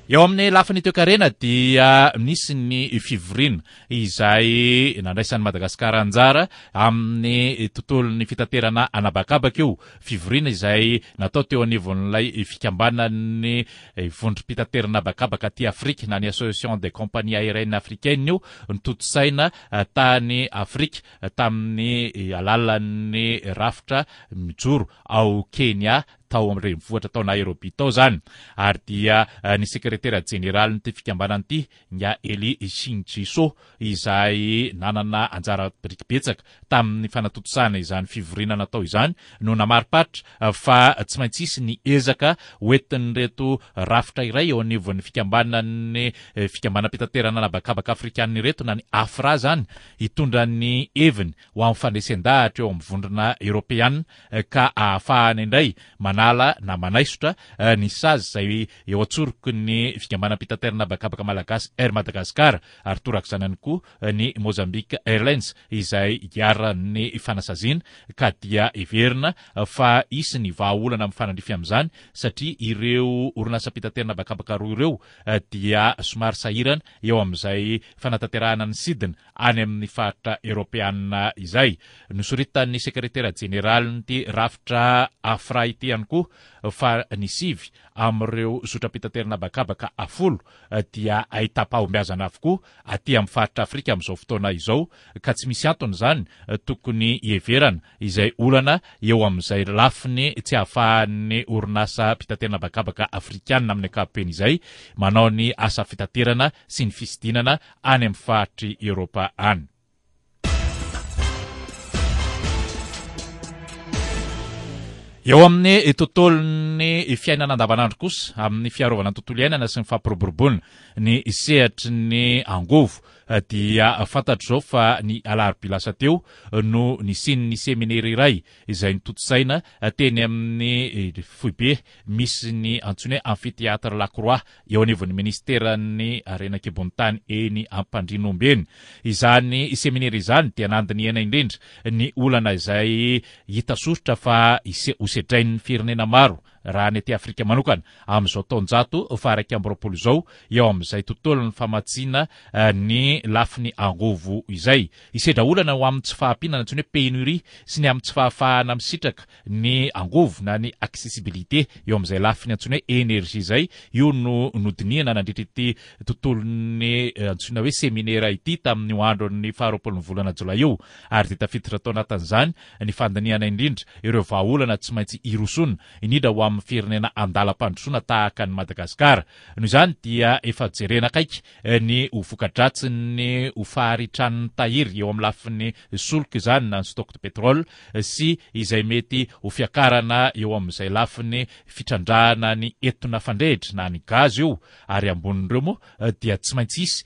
Eo amin'ny lafiny toekarena dia nisy ny fivoriana izay nandraisan'i Madagasikara anjara amin'ny tontolon'ny fitaterana anabakabaka io. Fivoriana izay natao teo anivon'ilay fikambanan'ny vondrom-pitaterana habakabaka aty Afrika na ny Association des compagnies aériennes africaines io notontosaina tany Afrika tamin'ny alalan'ny rafitra mijoro ao Kenya, tao amin'ny renivohitra tao Nairobi tao izany, ary dia ny sekretera jeneralin'ity fikambanana ity, Nya Elly Shinjiso, izay nanana anjara biriky betsaka tamin'ny fanatontosana izany fivoriana natao izany, no namariparitra fa tsy maintsy hisy ny ezaka hoentin'ireto rafitra iray eo anivon'ny fikambanan'ny fikambanam-pitaterana an'habakabaka afrikana ireto, na ny Afra izany, hitondra ny heviny ho amin'ny fandresen-dahatra eo amin'ny Vondrona Eoropeana ka ahafahana indray manala na manaisotra ny sazy izay eo an-tsoroky ny Fikambanam-pitaterana Habakabaka Malagasy Air Madagascar ary torak'izany ihany koa ny Mozambique Airlines izay iharan'ny fanasaziana ka dia heverina fa hisy ny vahaolana mifanandrify amin'izany satria ireo orinasam-pitaterana habakabaka roa ireo dia somary sahirana eo amin'izay fanatanterahana ny sidina any amin'ny faritra eropeanina izay. Nosoritan'ny sekretera jeneralin'ity rafitra Afra ity ihany koa fa ny sivy amin'ireo zotram-pitaterana habakabaka folo dia ahitam-pahombiazana avokoa aty amin'ny faritra Afrika amin'izao fotoana izao ka tsy misy antony izany tokony hiheverana izay olana eo amin'izay lafiny tsy ahafahan'ny orinasa mpitaterana habakabaka afrikanina amin'ny ankapobeny izay manao ny asa fitaterana sy ny fisidinana any amin'ny faritr'i Eoropa any. Eo amin'ny tontolon'ny fiainana andavanandro kosa, amin'ny fiarovana ny tontolo iainana sy ny fampiroboroboana ny sehatry ny angovo, dia fantatro izao fa ny alarobia lasa teo no nisian'ny seminera iray izay notontosaina teny amin'ny foibe misy ny antsoiny hoe Amphithéâtre La Croix eo anivon'ny minisiteran'ny harena an-kibon'ny tany eny Ampandrianomby eny. Izany seminera izany dia nandinihana indrindra ny olana izay hita soritra fa hosedrain'ny firenena maro Raha ny aty Afrika manokana, amin'izao taonjato faha-iraika amby roapolo izao, eo amin'izay tontolon'ny famatsiana ny lafiny angovo izay, hisedra olana ho amin'ny tsy fahampiana, antsoina hoe pénurie, sy ny amin'ny tsy fahafahana misitraka ny angovo na ny accessibilité eo amin'izay lafiny antsoina hoe énergie izay, io no nodinihana nandritra ity tontolon'ny antsoina hoe seminera ity tamin'io andron'ny faharoapolon'ny volana jolay io ary dia tafiditra tao anatin'izany ny fandinihana indrindra ireo vahaolana tsy maintsy hirosoana, indrindra ho amin'ny firenena andalam-pandrosoana tahaka an'i Madagasikara. Noho izany dia efa jerena akaiky ny ho voka-dratsin'ny ho faharitran'ny tahiry eo amin'ny lafiny solika izany na ny stock de pétrole sy izay mety ho fiakarana eo amin'izay lafiny fitrandrahana ny etona fandrehitra na ny gaz io ary ambonin'ireo moa dia tsy maintsy hisy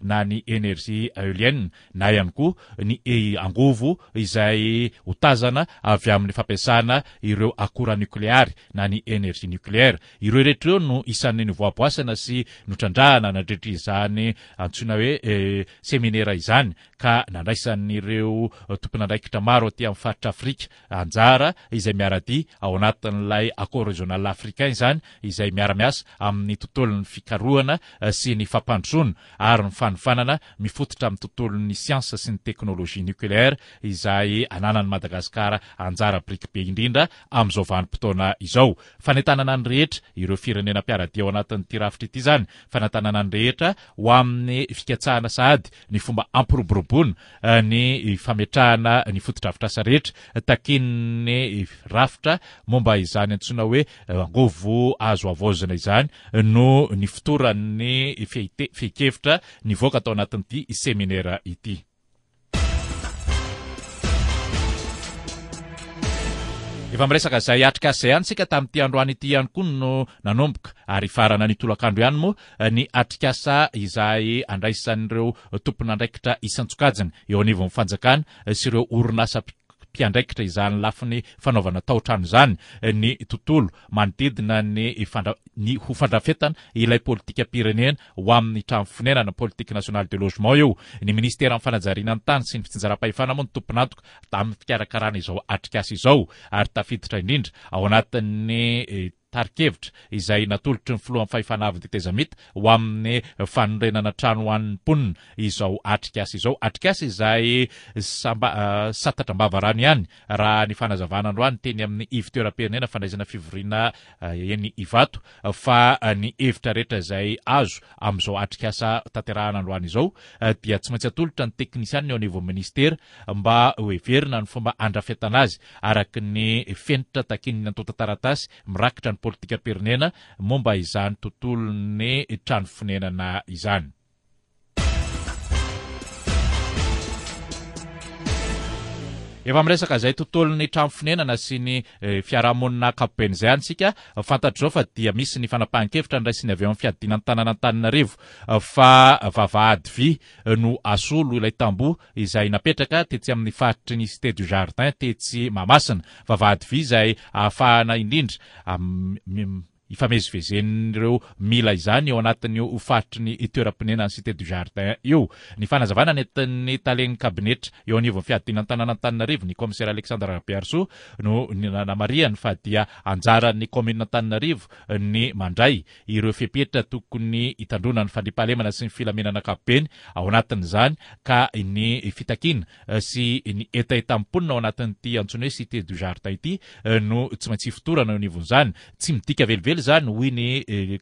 na ny energie eolienne na ihany koa ny angovo izay ho tazana avy amin'ny fampiasana ireo akora nokleary na ny energie nucléaire. Ireo rehetra ireo no isan'ny novoaboasana sy notrandrahana nandritra izany antsoina hoe seminera izany ka nandraisan'ireo tompon'andraikitra maro aty amin'ny faritra Afrika Anjara izay miara-dia ao anatin'ilay Accord Régional Africain izany izay miara-miasa amin'ny tontolon'ny fikarohana sy ny fampandrosoana ary ny fanofanana mifototra amin'ny tontolon'ny siansa sy ny teknolojia nucléaire izay ananan'i Madagasikara anjara biriky be indrindra amin'izao vanim-potoana izao. Fanentanana ny rehetra ireo firenena mpiara-dia ao anatin'ity rafitra ity izany, fanentanana ny rehetra ho amin'ny fikatsahana sahady ny fomba hampiroboroboana ny fametrahana ny fotodrafitrasa rehetra takian'ny rafitra momba izany antsoina hoe angovo azo havaozina izany no nifotoran'ny fehin-kevitra nivoaka tao anatin'ity seminera ity. Efa miresaka izay atrikasa izay antsika tamin'ity androany ity ihany koa no nanomboka ary hifarana ny tolakandro ihany moa ny atrikasa izay andraisan'ireo tompon'andraikitra isan-tsokajiny eo anivon'ny fanjakana sy ireo orinasa mpiandraikitra izany lafiny fanaovana tao-trano izany ny tontolo manodidina ny ny ho fandrafetana ilay politikam-pirenena ho amin'ny trano fonenana, Politique nationale de logement, eo. Ny minisiteran'ny fanajariana ny tany sy ny fitsinjaram-pahefana moa no tompon'antoka tamin'ny fikarakarana izao atrikasa izao ary tafiditra indrindra ao anatin'ny tari-kevitra izay natolotry ny filohan'ny fahefana avo tetezamita ho amin'ny fanorenana trano ho an'ny mponina izao atrikasa izao, atrikasa izay samba satatra am-bava rano ihany raha ny fanazavana androany teny amin'ny ivontoeram-pirenena fandraisana fivoriana eny Ivato fa ny hevitra rehetra izay azo amin'izao atrikasa tanterahana androany izao dia tsy maintsy atolotra ny teknisianina eo anivon'ny minisitera mba ho heverina ny fomba handrafetana azy araka ny fenitra takian'ny antontan-taratasy mirakitra ny politikam-pirenena momba izany tontolon'ny trano fonenana izany. Efa miresaka izay tontolon'ny trano fonenana sy ny eh, fiarahamonina ankapobeny izay any isika. Fantatr'izao fa dia misy ny fanapahan-kevitra niraisin'ny avy ao amin'ny fiadiana ny tanàn'Antananarivo eh, fa vavahady vy no asolo ilay tamboho izay napetraka tetsy amin'ny faritry ny Cité du Jardin tetsy Mahamasina. Vavahady vy izay ahafahana indrindra amin'ny ifamezivezen'ireo mila izany eo anatin'io faritry ny toeram-ponenan'ny Cité du Jardin io. Ny fanazavana nentin'ny talen'ny kabinetra eo anivon'ny fiadiana an-tanàn'Antananarivo, ny kaomisera Alexandre Rabearisoa, no nanamarihany fa dia anjaran'ny kaominina Antananarivo ny mandray ireo fepetra tokony hitandroana ny fandriampahalemana sy ny filaminana ankapobeny, ao anatin'izany ka ny fitakiana sy ny hetahetam-ponina ao anatin'ity antsoina hoe Cité du Jardin ity no tsy maintsy hifotorana eo anivon'izany. Tsy midika velively izany, hoy ny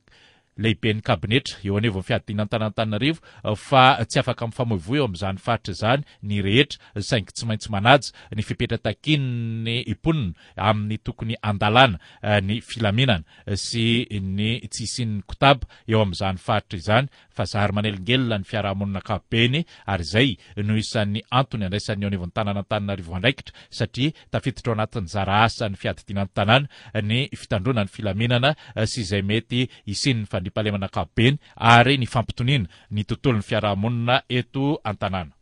Lehiben'ny Kabinetra eo anivon'ny Fiadiana Antanantananarivo, fa tsy afaka mifamoivoy eo amin'izany faritra izany ny rehetra saingy tsy maintsy manaja ny fepetra takian'ny mponina amin'ny tokony handalana ny filaminana sy ny tsy hisian'ny kotaba eo amin'izany faritra izany fa zary manelingelina ny fiarahamonina ankapobeny ary izay no isan'ny antony andraisan'ny eo anivon'ny tanàn'Antananarivo andraikitra satria tafiditra ao anatin'ny zara asan'ny fiadidiana ny tanàna ny fitandroana ny filaminana sy izay mety hisian'ny fandriampahalemana ankapobeny ary ny fampitoniana ny tontolon'ny fiarahamonina eto an-tanàna.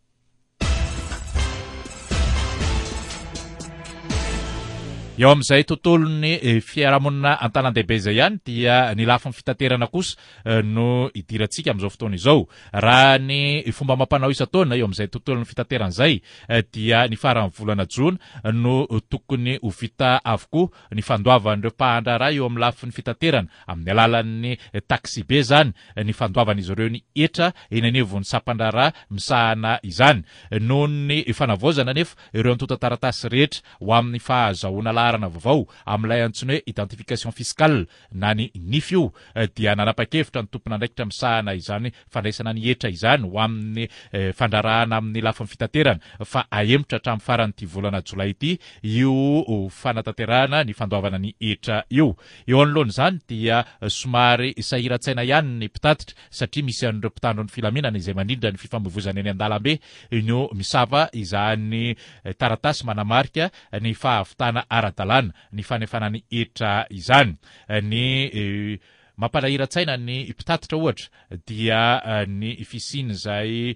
Eo amin'izay tontolon'ny eh, fiarahamonina an-tanandehibe izay ihany dia ny lafiny fitaterana kosa eh, no idirantsika amin'izao fotoana izao. Raha ny fomba amam-panao isan-taona eo amin'izay tontolon'ny fitaterana izay eh, dia ny faran'ny volana jona no tokony ho vita avokoa ny fandoavan'ireo mpahan-draharaha eo amin'ny lafiny fitaterana amin'ny alalan'ny taxibe izany, ny fandoavan'izy ireo ny hetra eny anivon'ny sampan-draharaha misahana izany. Noho ny fanavaozana anefa ireo antontan-taratasy rehetra ho amin'ny fahazahoana laharana vaovao amin'ilay antsoina hoe identification fiscale, na ny nify io dia nanapa-kevitra ny tompon'andraikitra misahana izany fandraisana ny hetra izany ho amin'ny fandraharahana amin'ny lafiny fitaterana fa hahemotra hatramin'ny faran'ity volana jolay ity io fanatanterahana ny fandoavana ny hetra io. Eo anoloan'izany dia somary sahiran-tsaina ihany ny mpitatitra satria misy an'ireo mpitandro ny filaminana izay manindra ny fifamoivozana eny an-dalambe no misava izany taratasy manamarika ny fahavitana ara-dalàna ny fanefana ny hetra izany. Ny mampalahiran-tsaina ny mpitatitra ohatra dia ny fisian'izay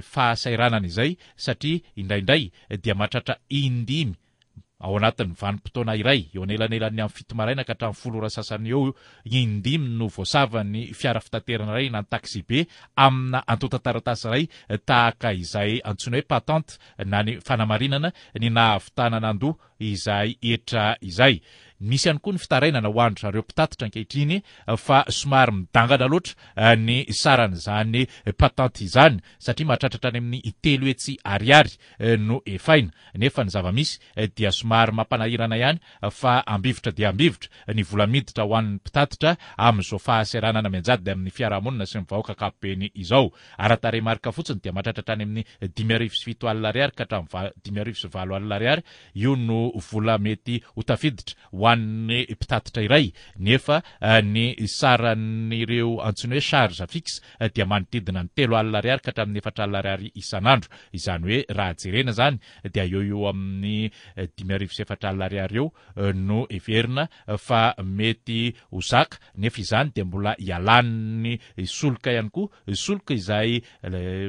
fahasahiranana izay satria indraindray dia mahatratra in-dimy ao anatin'ny vanim-potoana iray, eo anelanelan'ny amin'ny fito maraina ka hatramin'ny folo ora sasany eo eo, in-dimy no voasavan'ny fiara fitaterana iray na ny taxi-be amina antontan-taratasy iray tahaka izay antsoina hoe patente na ny fanamarinana ny nahavitana nandoa izay hetra izay. Misy ihany koa ny fitarainana ho an-dry zareo mpitatitra ankehitriny fa somary midangana loatra ny saran'izany patente izany satria mahatratratra any amin'ny telo hetsy ariary no efaina nefa ny zava-misy dia somary mampanahirana ihany fa ambivitra dia ambivitra ny vola miditra ho an'ny mpitatitra amin'izao fahaseranana mianjady amin'ny fiarahamonina sy ny vahoaka ankapobeny izao. Ara-tarehimarika fotsiny dia mahatratra hatrany amin'ny dimy arivo sy fito alina ariary ka hatramin'ny va dimy arivo sy valo alina ariary io no vola mety ho tafiditra ho an'ny mpitatitra iray nefa ny saran'ireo antsoina hoe charge fixe dia manodidina ny telo alina ariary ka hatramin'ny efatra alina ariary isan'andro. Izany hoe raha jerena izany dia eo ho eo amin'ny dimy arivo sy efatra alina ariary eo no heverina fa mety ho zaka nefa izany dia mbola ialan'ny solika ihany koa, solika izay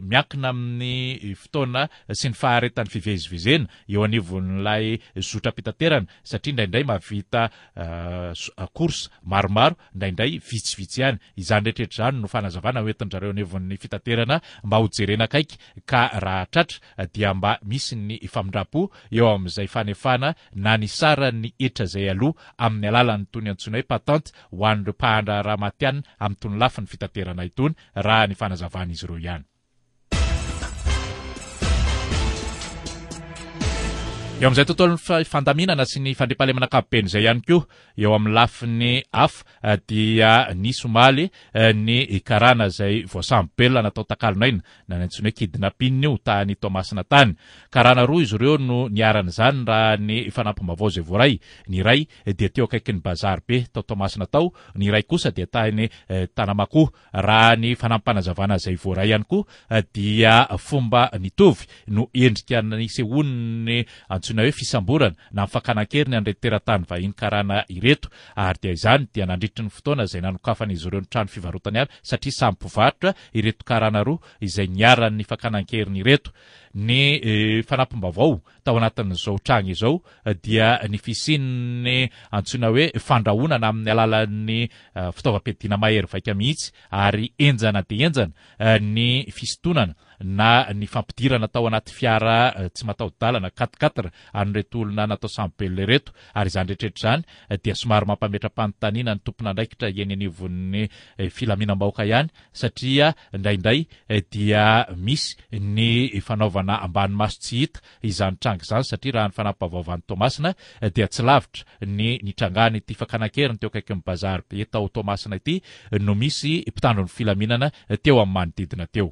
miankina amin'ny fotoana sy ny faharetan'ny fivezivezena eo anivon'ilay zotram-pitaterana satria indraindray mahavita course maromaro, indraindray vitsivitsy ihany. Izany rehetra rehetra izany no fanazavana hoentin-dry zareo anivon'ny fitaterana mba hojerena akaiky ka raha tratra dia mba misy ny famindrampo eo amin'izay fanefana na ny saran'ny hetra izay aloa amin'ny alalan'itony antsoina hoe patente ho an'ireo mpahandraharaha matihanina amin'itony lafiny fitaterana itony, raha ny fanazavan'izy ireo ihany. Eo amin'izay tontolon'ny fandaminana sy ny fandriampahalemana ankapobeny izay ihany koa, eo amin'ny lafiny hafa dia nisy omaly ny karana izay voasambo-belona natao takalon'aina Nanantsoina kidnapping io tany Toamasina tany. Karana roa izy ireo no niharan'izany raha ny fanampim-baovao izay voaray. Ny iray dia teo akaikin'ny bazary be tao Toamasina tao, ny iray kosa dia tany Tanamakoa. Raha ny fanampim-panazavana izay voaray ihany koa dia fomba mitovy no endrika nisehoan'ny antsoina hoe fisamborana na ny fakana an-keriny an'ireto teratany vahiny karana ireto ary dia izany dia nandritry ny fotoana izay nanokafan'izy ireo ny trano fivarotany avy satria samy mpivarotra ireto karana roa izay niharan'ny fakana an-keriny ireto. Ny fanampim-baovao tao anatin'izao tranga izao dia ny fisian'ny antsoina hoe fandrahonana amin'ny alalan'ny fitaovam-piadiana mahery vaika mihitsy ary henjana dia henjana ny fisintonana na ny fampidirana tao anaty fiara tsy mataho-dalana, quat-quatre, an'ireto olona natao samy belona ireto. Ary izany rehetra rehetra izany dia somary mampametra-panontaniana ny tompon'andraikitra eny anivon'ny filaminam-bahoaka ihany satria indraindray dia misy ny fanaovana ambany maso tsy hita izany tranga izany satria raha ny fanampavaovan'i Toamasina dia tsy lavitra ny nitrangan'ity fakana an-keriny teo akaikin'ny Bazar be tao Toamasina ity no misy mpitandro ny filaminana teo amin'ny manodidina teo.